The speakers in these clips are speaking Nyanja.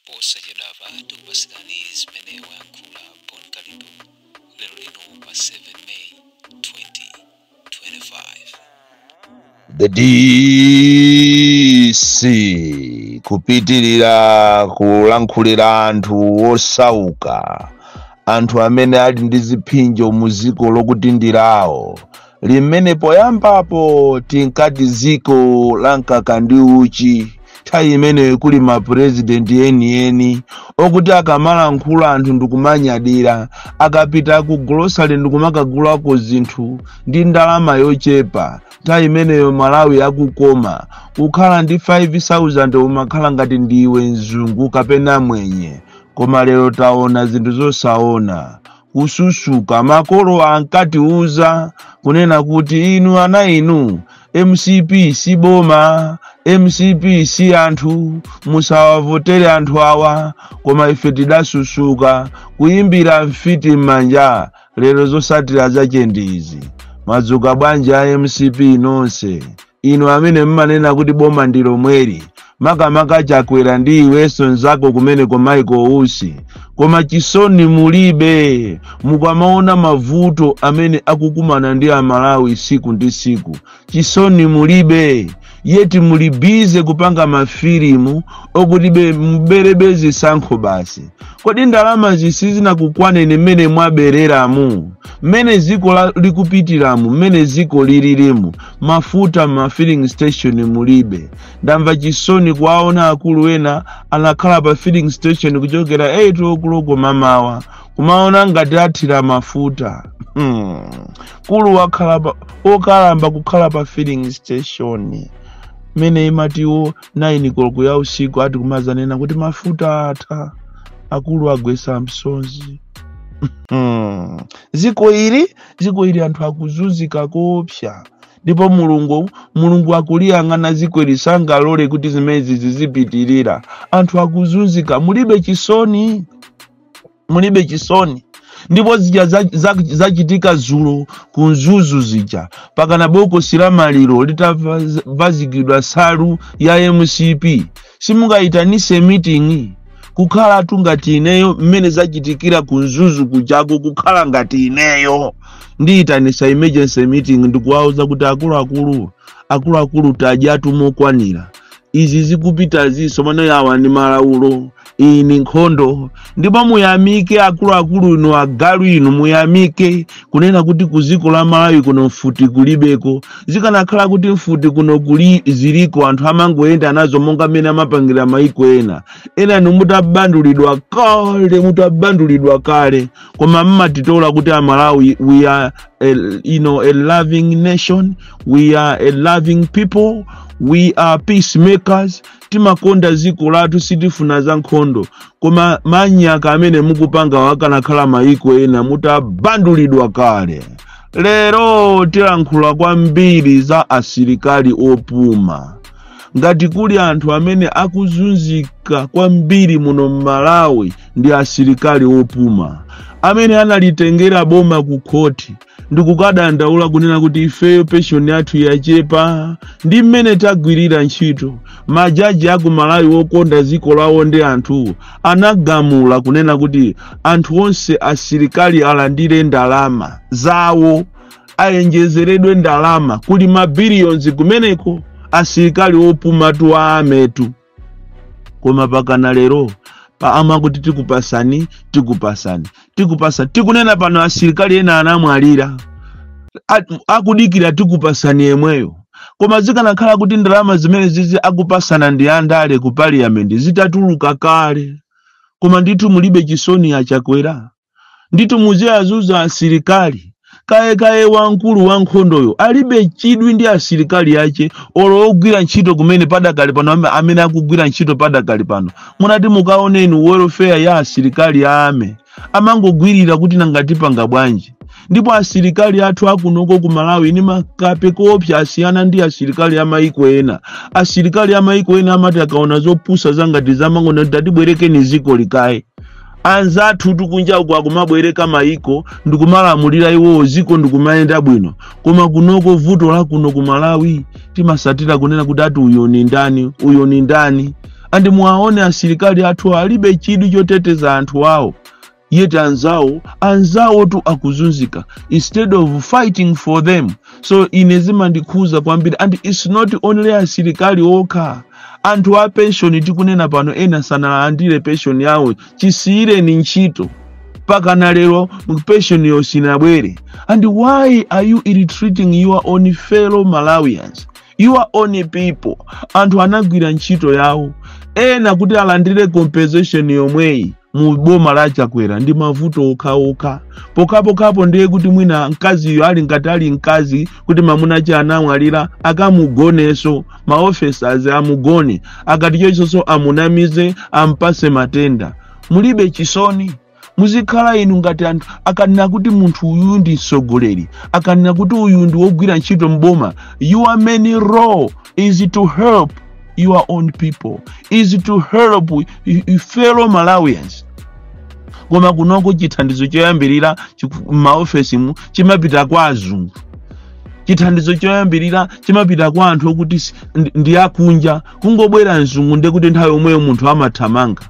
Posachedwapa tikupatsirani zimene wayankhula Bon Kalindo lero lino pa 7 May 2025. The DC kupitirira kulankhulira anthu osauka, anthu amene ali ndi ziphinjo mu dziko lokuti ndi lawo, limene poyambapo tinkati dziko la mkaka ndi uchi nthawi imeneyo kuli mapurezidenti enieni okuti akamalankhula anthu ndikumanyadira akapita ku golosale ndikumakagulako zinthu ndi ndalama yochepa nthawi imeneyo malawi akukoma kukhala ndi 5000 umakhala ngati ndiwe mzungu kapena mwenye koma lero taona zinthu zosaona kususuka makolo ankatiuza kunena kuti inu ana inu mcp si boma mcp si anthu musawavotere anthu awa koma ife tidasusuka kuyimbira mfiti m'manja lero zosatira zache ndi izi mwadzuka bwanji a mcp nonse inu amene mumanena kuti boma ndi lomweli makamaka chakwera ndi iwenso nzako kumeneko Maiko Usi koma chisoni mulibe mukamaona mavuto amene akukumana ndi amalawi siku ndi siku chisoni mulibe yeti muli bize kupanga mafilimu okuti be- muberebe zisankho basi kodi ndalama zi- sizinakukwaneni mmene mwabereramu mmene ziko la- likupitiramu mmene ziko lilirimu mafuta ma filling station mulibe ndamva chisoni kuwaona akulu ena anakhala pa filling station kuchokera 8 okuloko mamawa kumaona ngati athira mafuta hmm. kulu wokalamba kukhala pa filling station mmene imati 9 koloko ya usiku ati kumazanena kuti mafuta atha akulu agwesa msozi Hmm. ziko ili ziko ili anthu akuzunzika koopsa ndipo mulungu mulungu akuliyang'ana ziko ili sangalole kuti zimenezi zizipitirira anthu akuzunzika mulibe chisoni mulibe chisoni ndipo zija zachitika zulo ku mzuzu zija pakana bokosi la maliro litavazikidwa salu ya mcp simungaitanise meeting kukhalatu ngati ineyo mmene zachitikira ku mzuzu kujako kukhala ngati ineyo ndiyitanisa emergency meeting ndikuwauza kuti akuluakulu akuluakulu tadyatu mokwanira izi zikupitazi sono mano yawa ndi malaulo iyi ni nkhondo ndipo muyamike akuluakulu inu agalu inu muyamike kunena kuti ku ziko la malawi kuno mfuti kulibeko zikanakhala kuti mfuti kuno kuli ziliko anthu amangoyenda nazo monga mmene amapangira maiko ena ena inu mutabandulidwa kale mutabandulidwa kale koma mmatitola kuti amalawi we are a, you know, a loving nation we are a loving people we are peacemakers timakonda ziko lathu sitifuna za nkhondo koma manyaka amene mukupangawa akanakhala mayiko ena mutabandulidwa kale lero tilankhula kwambiri za asilikali opuma ngati kuli anthu amene akuzunzika kwambiri muno m'malawi ndi asilikali opuma amene analitengera boma ku khoti ndikukadandaula kunena kuti ifeyo penshoni yathu yachepa ndi mmene tagwirira ntchito majaji aku malawi wokonda ziko lawo ndi anthu anagamula kunena kuti anthu onse asilikali alandire ndalama zawo ayenjezeredwe ndalama kuli mabiliyonzi kumeneko asilikali opumatu ametu koma pakana lero paja amakuti tikupasani tikupasani tikupasani tikunena pano asilikali ena anamwalira akudikira tikupasani yemweyo koma zikanakhala kuti ndalama zimenezizi akupasana ndi andale ku parliament zitatuluka kale koma ndithu mulibe chisoni achakwera ndithu muziazuza asilikali kaye kaye wamkulu wa nkhondoyo alibe chidwi ndi asilikali ache olo ogwira ntchito kumene padakali pano ame- amene akugwira ntchito padakali pano munati mukaoneni welfare ya asilikali ame amangogwirira kuti nanga tipanga bwanji ndipo asilikali athu akunoko ku malawi ni makape koopsa asiyana ndi asilikali a maiko ena asilikali a maiko ena amati akaona zopusa zangati izi amangonati tatibwerekeni zikoli kaye anzathutu kunja uko akumabwereka maiko ndikumalamulira iwowo ziko ndikumayenda bwino koma kunoko vuto la kuno ku malawi timasatira kunena kuti ati uyo ni ndani uyo ni ndani andi muwaone asilikali athu alibe chidwi choteteza anthu awo yet anzawo anzawotu akuzunzika instead of fighting for them so ine zimandikhuza kwambiri and its not only asilikali okha anthu a penshoni tikunena pano ena sanalandire penshoni yawo chisiyireni ntchito pakana lero penshoniyo sinabwere and why are you ill-treating your own fellow malawians your own people anthu anagwira ntchito yawo ena kuti alandire compensation yomweyi mu boma la chakwera ndi mavuto okhaokha pokhapokhapo ndiye kuti mwina mkaziyo ali ngati ali mkazi kuti mamuna ache anamwalira akamugoneso maofesas amugone akatichoso amunamize ampase matenda mulibe chisoni muzikhala inu ngati anthu akanena kuti munthu uyu ndi mtsogoleri akanena kuti uyu ndi wogwira ntchito mboma your main role is to help your own people is to help your fellow malawians koma kunoko chithandizo choyambirira m'maofesimu chimapita kwa azungu chithandizo choyambirira chimapita kwa anthu okuti si- ndi- ndi akunja kungobwera mzungu ndekuti nthawi yomweyo munthu amathamanga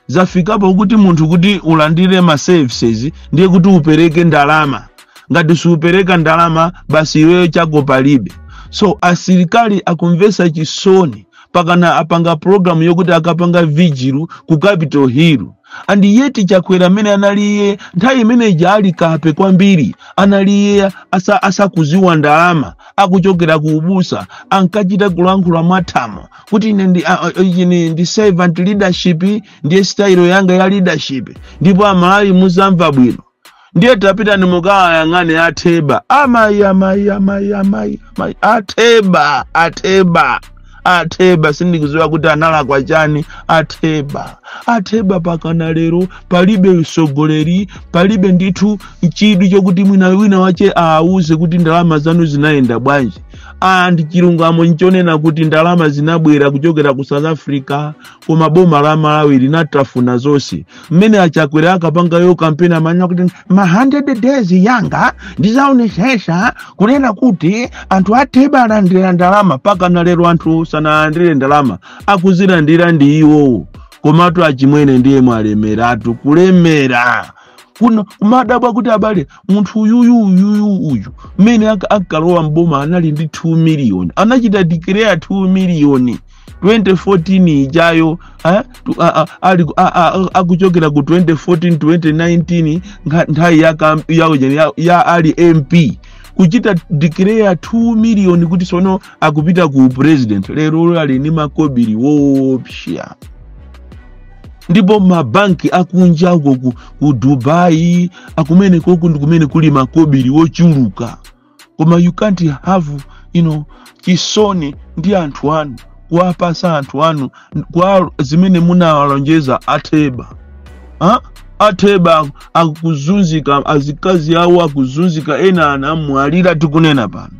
zafikapo kuti munthu kuti ulandire ma services ndiye kuti upereke ndalama ngati siupereka ndalama basi iweyo chako palibe so asilikali akumvesa chisoni pakana apanga programu yokuti akapanga vigil ku capital hill and yet chakwera mmene anali iye nthawi imene ija ali kape kwambiri anali iye asa, asakuziwa ndalama akuchokera ku ubusa ankachita kulankhula mwathamo kuti ine ndi, a, a, ine ndi servant leadership ndiye style yanga ya leadership ndipo amalawi muzamva bwino ndiye tapitani mukawayang'ane atheba amayi amayi amayi amayi amayi atheba atheba atheba sindikuziwa kuti analakwa chani atheba atheba pakana lero palibe usogoleri palibe ndithu chidwi chokuti mwina wina wache awauze kuti ndalama zanu zinayenda bwanji and chilungamo nchonena kuti ndalama zinabwera kuchokera ku south africa koma boma la malawi linatafuna zonse mmene achakwera ankapangayo kampeni amanena kuti ma 100 days yanga ndizaonesesa kunena kuti anthu atheba alandira ndalama pakana lero anthu sanalandire ndalama akuzilandira ndi iwowo komatu achimwene ndiye mwalemeratu kulemera nkumadabwa kuti abale munthu uyuyu uyuyu uyu mmene anka- ankalowa mboma anali ndi 2 miliyoni anachita declare 2 miliyoni 2014 ijayo eh, tu- a- a- ali ku- a- a- a- akuchokera ku 2014 2019 nkha- nthawi ya, kam- ya, ujeni, ya, ya ali mp kuchita declare 2 miliyoni kuti sono akupita ku president lero ali ni makobiri woopsya ndipo mabanki akunja uko ku, ku dubai a kumenekoku ndi kumene kuli makobiri wochuluka koma you can't have you know, chisoni ndi anthu anu kuwapasa anthu anu kwa zimene munawalonjeza atheba ha? atheba akuzunzika azikazi awo akuzunzika ena anamwalira tikunena pano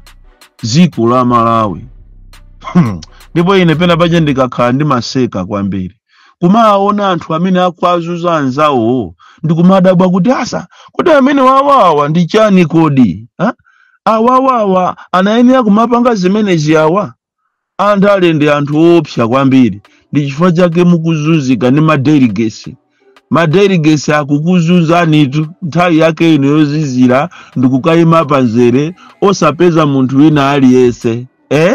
dziko la malawi ndipo ine penapache ndikakhala ndimaseka kwambiri kumaona anthu amene akuwazunza anzawo ndi kumadabwa kuti asa kuti amene wawawa ndi chani kodi ha? awawawa anayenera kumapanga zimenezi awa anthu ali ndi anthu oopsa kwambiri ndi chifukwa chake mukuzunzika ndi madelegates madelegates akukuzunzanitu nthawi yake ino yozizira ndikukayima pamzere osapeza munthu wina aliyense eh?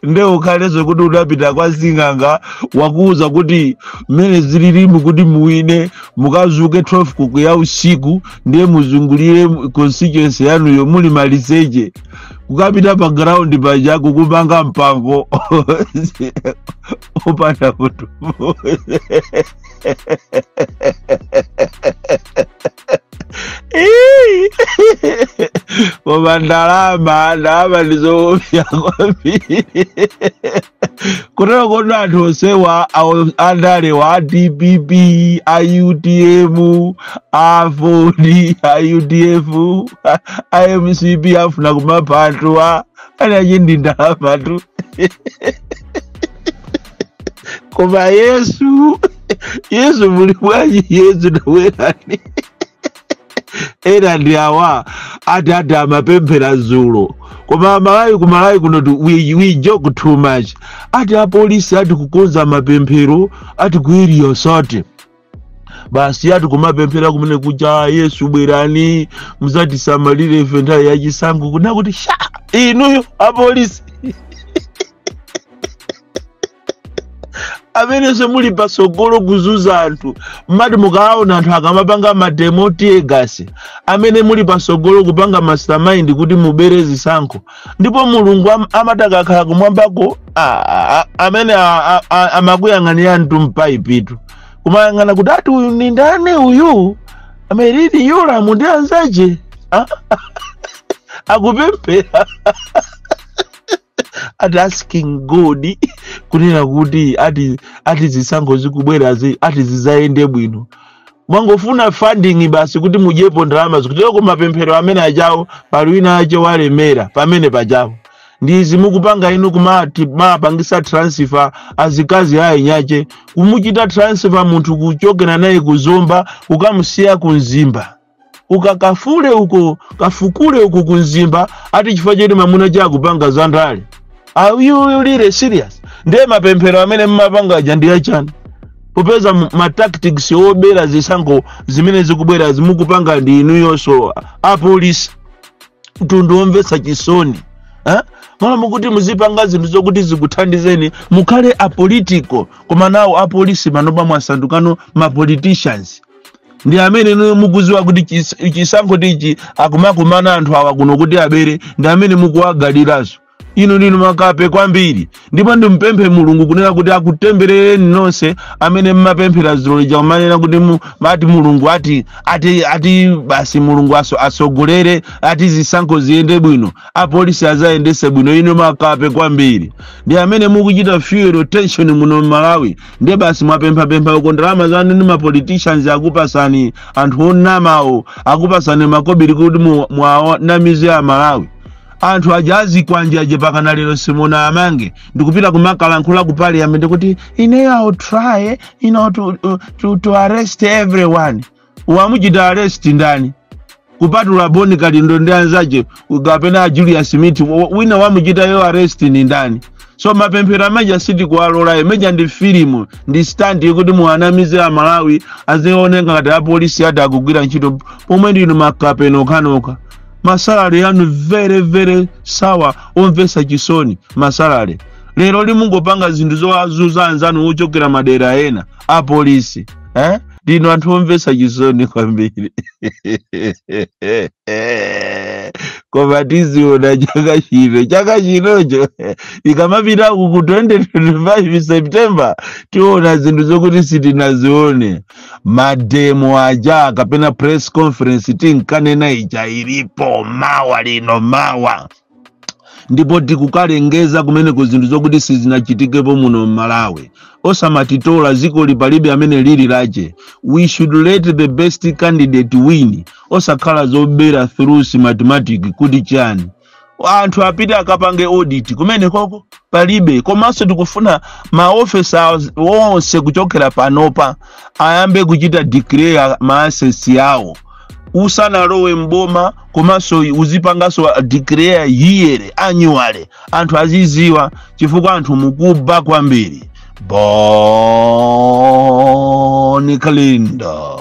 nde ukhalenso kuti udapita kwa sing'anga wakuwuza kuti mmene zililimu kuti muwine mukadzuke 12 koloko ya usiku ndiye muzungulire constituency yanuyo muli maliseche kukapita pa ground paja kukumanga mpango opanda munthu koma ndalama ndalama ndizoopsa kwambiri kutero kuti anthu onsewa awo- andale a dpp a utm a aford a udf a mcp afuna kumapha anthuwa ali aje ndi ndalamatu koma yesu yesu muli bwanji yesu nawerani ena ndi awa ati ati amapemphera zulo koma amalawi ku malawi kuno tu- we, we joke too much ati apolisi ati kukonza mapemphero ati kuiriyosote basi ati kumapemphera kumene kuja yesu bwerani muzatisamalire ife nthawi yachisankho kunena kuti sha inuyo apolisi amenenso muli patsogolo kuzunza anthu mumati mukaona anthu akamapanga mademo tiyegasi amene muli patsogolo kupanga mastermind kuti mubere zisankho ndipo mulungu am- amati akakhala kumwambako a- a- a- amene a- a- a- amakuyang'anirani mtu mpaipitu kumayang'ana kuti ati uyu ndi ndani uyu a merlyn yolamu ndi anzache Ah, akupemphera ati asking god kunena kuti ati ati zisankho zikubwerazi ati zizayende bwino mwangofuna funding basi kuti mudyepo ndalama zikuteroko mapemphero amene ajawo pali wina ache walemera pamene pajawo ndi izi mukupanga inu kumawapangisa transfer azikazi a eni ache kumuchita transfer munthu kuchokera naye ku zomba kukamusiya ku mzimba ukakafule uko kafukule uko ku mzimba ati chifukwa choti mamuna wache akupanga za ndale are you really serious ndiye mapemphero amene mumapanga aja ndi achani popeza m- ma tactics obera zisankho zimene zikubwerazi mukupanga ndi inuyonso apolisi mtundu womvetsa chisoni eh? malo mokuti muzipanga zinthu zokuti zikuthandizeni mukhale apolitical koma nawo apolisi panopa mwasandukano mapoliticians ndi amene inu mukuziwa kuti chis- chisankho tichi akumakumana anthu awa kuno kuti abere ndi amene mukuwagalirazo Inu ndinu makape kwambiri ndipo ndimpemphe Mulungu kunena kuti akutemberereni nonse amene mmapemphera dzulo lija kumanena kuti mu- mati Mulungu ati ati ati basi Mulungu aso asogolere ati zisankho ziyende bwino apolisi azayendese bwino inu makape kwambiri ndi amene mukuchita fuel tension muno Malawi ndiye basi mwapemphapempha uko ndalama zanu ndi mapoliticians akupasani anthu onamawo akupasani makobiri kuti mu- muwanamize a Malawi anthu aja a zikwanje aja pakana lero simunawamange ndikupita kumakalankhula ku parliament kuti you know I'll try you know, to, to, to, to arrest everyone wamuchita arrest ndani kupatula boni kalindo ndi anzache kapena julius mithi wa- wina wamuchita yo arrest ndi ndani so mapemphero amaja sitikuwalola imeija ndi filimu ndi stand yekuti muwanamize amalawi azioneka ngati apolisi ati akugwira ntchito pomwe ndinu makape nokhanokha masalary anu very very sour omvesa chisoni masalary lero lino mungopanga zinthu zowazuza anzanu ochokera madera ena apolisi eh? ndinu anthu omvesa chisoni kwambiri koma tiziona chaka chino chaka chinocho ikamapita ku 2025 september tiona zinthu zokuti sitinazione mademo aja kapena press conference tinkanena ija ilipo mawa lino mawa ndipo tikukalengeza kumeneko zinthu zokuti sizinachitikepo muno m'malawi osamatitola zikoli palibe amene lili lache we should let the best candidate win osakhala zobera through mathematic kuti chani anthu apite akapange audit kumene koko palibe komanso tikufuna maofisa onse kuchokera panopa ayambe kuchita declare ma assets awo usanalowe mboma komanso uzipanganso declare yearly annually anthu aziziwa chifukwa anthu mukuba kwambiri boni kalindo